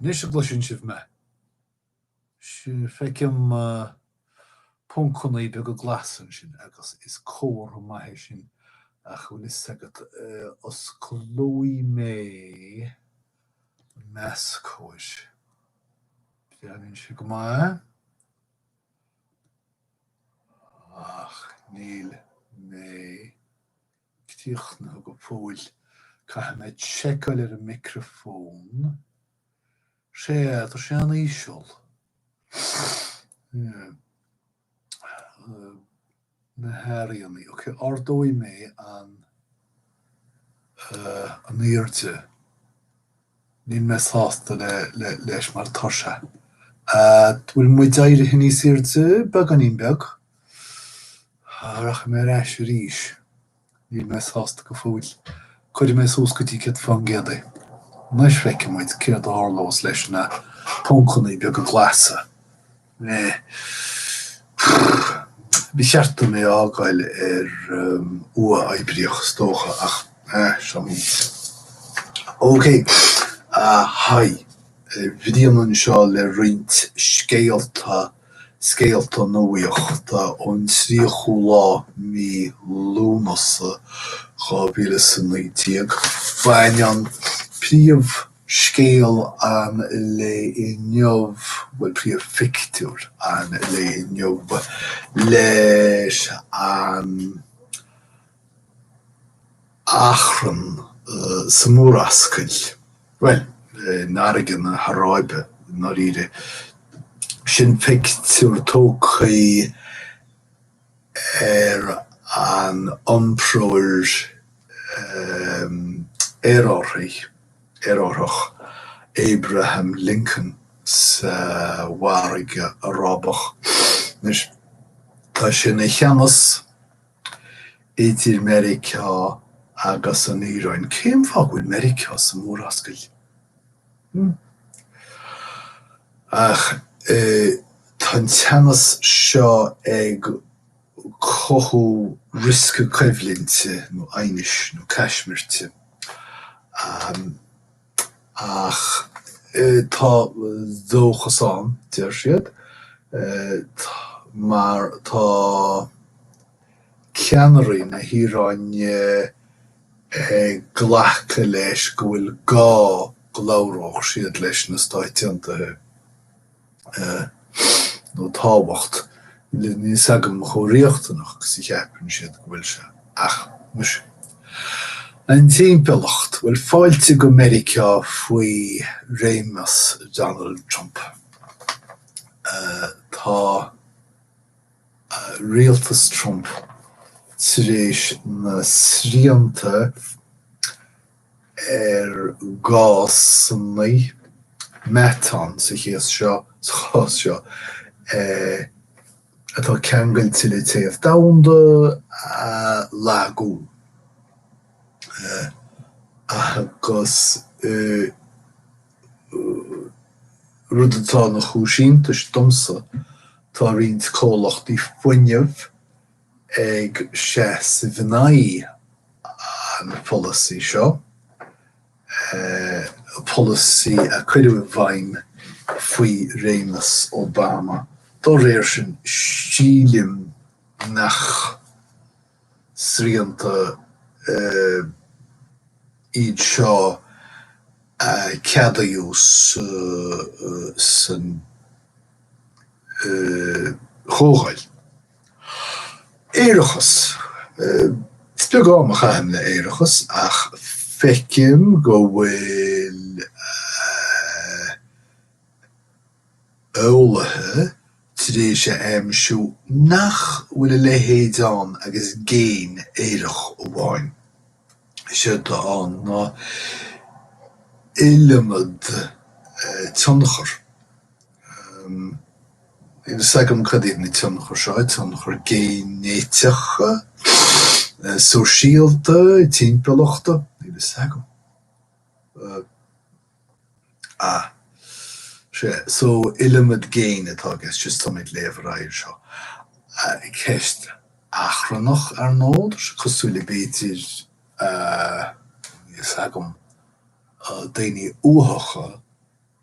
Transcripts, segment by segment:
Anois an gcloiseann sibh mé, feicim poncannaí beaga glasa ansin agus is comhartha maith é sin ach an bhfuil a fhios agat, osclóidh mé. Más cóir. Breathnaíonn sé go maith. Ach níl mé críochnaithe go fóill. Caithfidh mé seiceáil ar an micreafón. Sea, tá sé an-íseal. na hairíonnaí. Ok, ardóidh mé an an airde. Níl mé sásta le le leis mar tá sé. Ahh bhfuil muid éirithe níos airde? Beagáinín beag. Rachaidh mé ar ais arís. Níl mé sásta go fóill. Cuirfidh mé suas go dtí céad fán gcéad é. Anois feicfidh muid céard a tharlós leis na poncannaí beaga glasa. Eh. Prrr. Ba cheart dom é a fhágáil ar uathoibríoch is dócha ach, eh, seo é. OK. Haigh, Brian anseo le roinnt scéalta. Scéalta nuaíochta ón 30ú lá mí Lúnasa 2019. Baineann príomhscéal an lae inniu, bhuel príomhphictiúr an lae inniu leis an achrann sa Mhurascaill, bhuel, i bhFarraige na hAráibe, i ndáiríre. Sin pictiúr tógtha ar an iompróir aerárthaigh, aerárthach, Abraham Lincoln sa bhFarraige Arábach. Anois, tá sé ina theannas. idir Meiriceá agus an Iaráin. Cén fáth go bhfuil Meiriceá sa Mhurascaill? Ach tá an teannas seo ag cothú riosca coimhlinte nó aighnis nó caismirte. Ach tá dóchas ann, deir siad, mar tá ceannairí na hIaráine ag glacadh leis go bhfuil gá go labhródh siad leis na Stáit Aontaithe. nó tábhacht, níl 's agam chomh riachtanach 's a cheapann siad go bhfuil sé. Ach muise. An timpeallacht, bhuel fáilte go Meiriceá faoi réimeas Donald Trump. Tá rialtas Trump tar éis na srianta ar gásanna meatáin sa chás seo, sa chás seo, atá ceangailte le téamh domhanda a lagú agus rud atá ina chúis iontais domsa tá roinnt comhlachtaí fuinnimh, ag seasamh in aghaidh an policy seo, policy a cuireadh i bhfeidhm faoi réimeas Obama. Dá réir sin, sílim nach srianta iad seo a ceadaíodh san Chomhdháil. Aerachas. Is beag am a chaithim le aerachas ach feicim go bhfuil eolaithe tar éis a aimsiú nach bhfuil a leithéid ann agus géin aerach amháin. Séard atá ann ná iliomad tionchar Níl fhios agam cad iad na tionchair seo, tionchair généiteacha, sóisialta, timpeallachta, níl fhios agam. Ah, sea, so iliomad géin atá i gceist, just táim ag léamh ar aghaidh anseo. Ceist achrannach ar ndóigh, tá sé cosúil le b'fhéidir, níl fhios agam, daoine uathacha,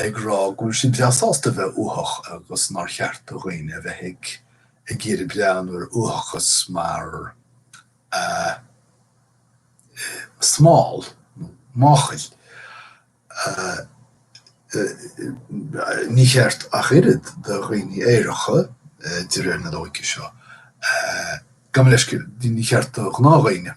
ag rá go bhfuil siad breá sásta a bheith uathach agus nár cheart do dhaoine a bheith ag ag iarraidh breathnú ar uathachas mar eh. smál nó máchail. Eh. ní cheart ach oiread do dhaoine aeracha, eh. de réir na loighce seo, eh. gabh mo leithscéal, ní cheart do ghnáthdhaoine.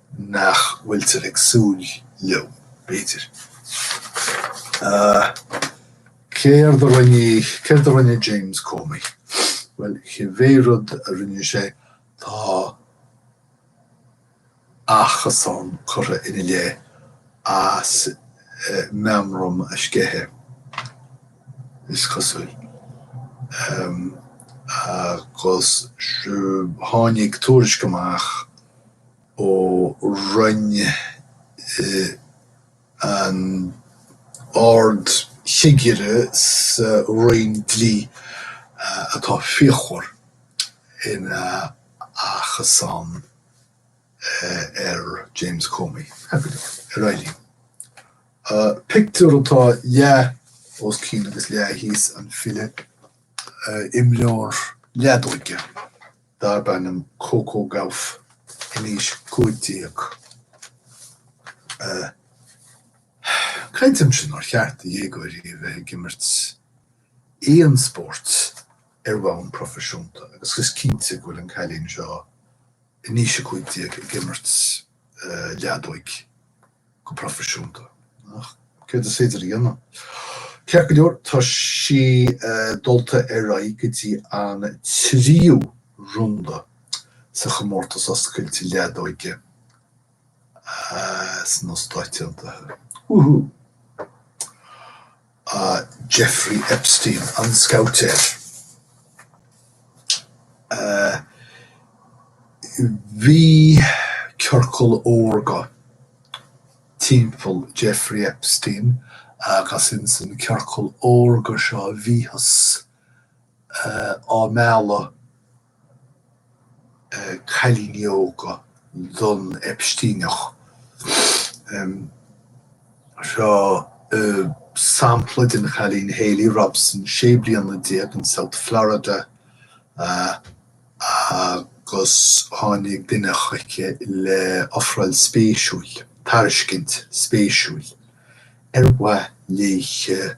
nach bhfuiltear ag súil leo, b'fhéidir. Céard a rinne, céard a rinne James Comey? Bhuel, cibé rud a rinne sé, tá achasán curtha ina leith as meamraim a sceitheadh, is cosúil, agus tháinig tuairisc amach, ó Roinn an Ard-Chigire sa Roinn Dlí atá fíochmhar ina achasán ar James Comey ar aon chaoi. Pictiúr atá leath os cionn agus leath thíos an fhillte, imreoir leadóige. darb ainm Coco Gauff in aois cúig déag creidimse nár cheart do dhéagóirí a bheith ag imirt aon spórt ar bhonn proifisiúnta agus is cinnte go bhfuil an cailín seo in aois a cúig déag ag imirt leadóig. go proifisiúnta. Ach céard is féidir a dhéanamh. Ceart go leor tá sí dulta ar aghaidh go dtí an tríú runda sa chomórtas oscailte leadóige sna Stáit Aontaithe. Woohoo! a Jeffrey Epstein, an scabhaitéir. Bhí ciorcal órga timpeall Jeffrey Epstein agus insan ciorcal órga seo bhíothas á mealladh. cailíní óga don Epsteineach. Seo sampla de chailín, Haley Robson, sé bliana déag, in South Florida, agus tháinig duine chuici le ofráil spéisiúil, tairiscint spéisiúil, ar mhaith léithe,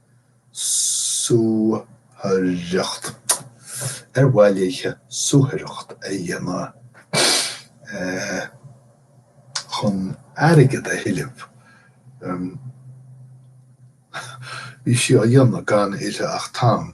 suathaireacht. Ar mhaith léithe suathaireacht a dhéanamh chun airgead a thuilleamh? Bhí sí á dhéanamh gan uirthi ach tang.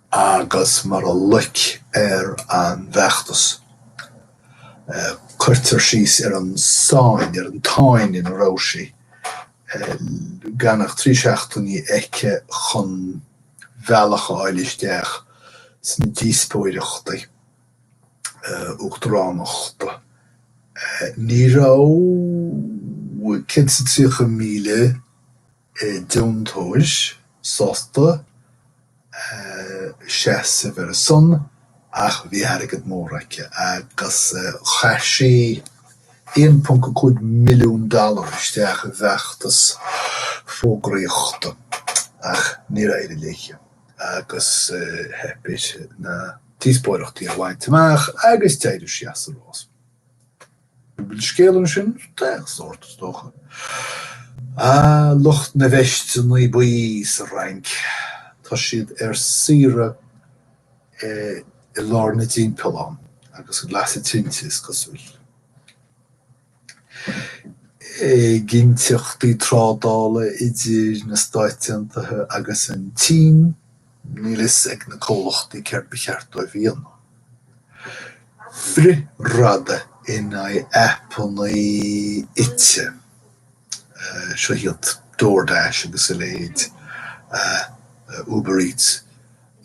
agus mar a loic ar an bhfeachtas. Cuirtear síos ar an sáinn, ar an tsáinn ina raibh sí, gan ach trí seachtainí aici chun bealach a fháil isteach sna díospóireachtaí uachtaránachta. Ní raibh céad is tríocha míle. eh, deontóir sásta, eh, seasamh ar a son ach bhí airgead mór aici agus, eh, chaith sí 1.5 milliún dollar isteach i bhfeachtas fógraíochta ach níor éirigh léi agus, eh, theip uirthi na díospóireachtaí a bhaint amach agus d'éirigh sí as an rás. Bhfuil scéal ansin d'aon sórt, is dócha? Ah, lucht na veisteannaí buí sa Fhrainc, tá siad ar saoire i lár na dtimpeallán agus ag lasadh tinte, is cosúil. Éiginnteachtaí trádála idir na Stáit Aontaithe agus an tSín. Níl fhios ag na comhluchtaí céard ba cheart dóibh dhéanamh. Frithradadh in aghaidh aipeannaí ite. Seo hiad DoorDash agus a leithéid. Uber Eats.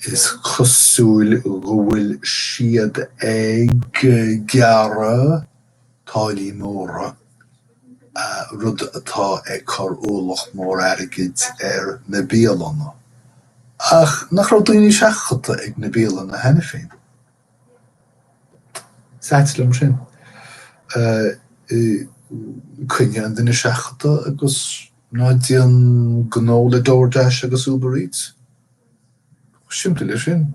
Is cosúil go bhfuil siad ag gearradh. táillí móra, rud atá ag cur ualach mór airgid ar na bialanna. Ach nach raibh daoine seachadta ag na bialanna cheana féin? Is ait liom sin. Coinnigh an duine seachadta agus ná déan gnó le DoorDash agus Uber Eats. Chomh simplí le sin.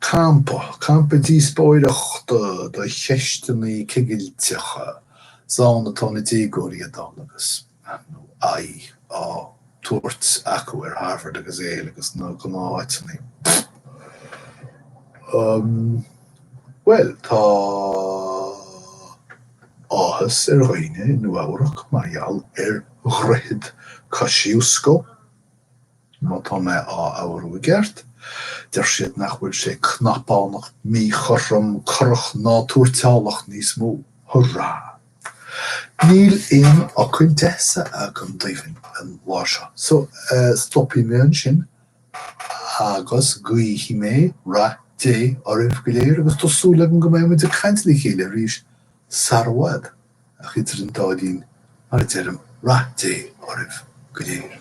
Campa, campa díospóireachta do cheisteannaí cigilteacha, 's ann atá na déagóirí ag dul agus, nó aghaidh á tabhairt acu ar Harvard agus Yale agus na gnáth-áiteannaí. Bhuel, tá. áthas ar dhaoine i Nua-Eabhrac mar gheall ar dhroichead Kosciuszko. Má tá mé á labhairt i gceart, deir siad nach bhfuil sé cnapánach míchothrom corrach ná tuairteálach níos mó. Hurrá! Níl aon nath cainte deas agam daoibh an lá seo so stopfaidh mé ansin Agus guífidh mé rath Dé oraibh go léir agus tá súil agam go mbeidh muid ag caint le chéile arís sar i bhfad ach idir an dá linn mar a deirim rath Dé oraibh go léir.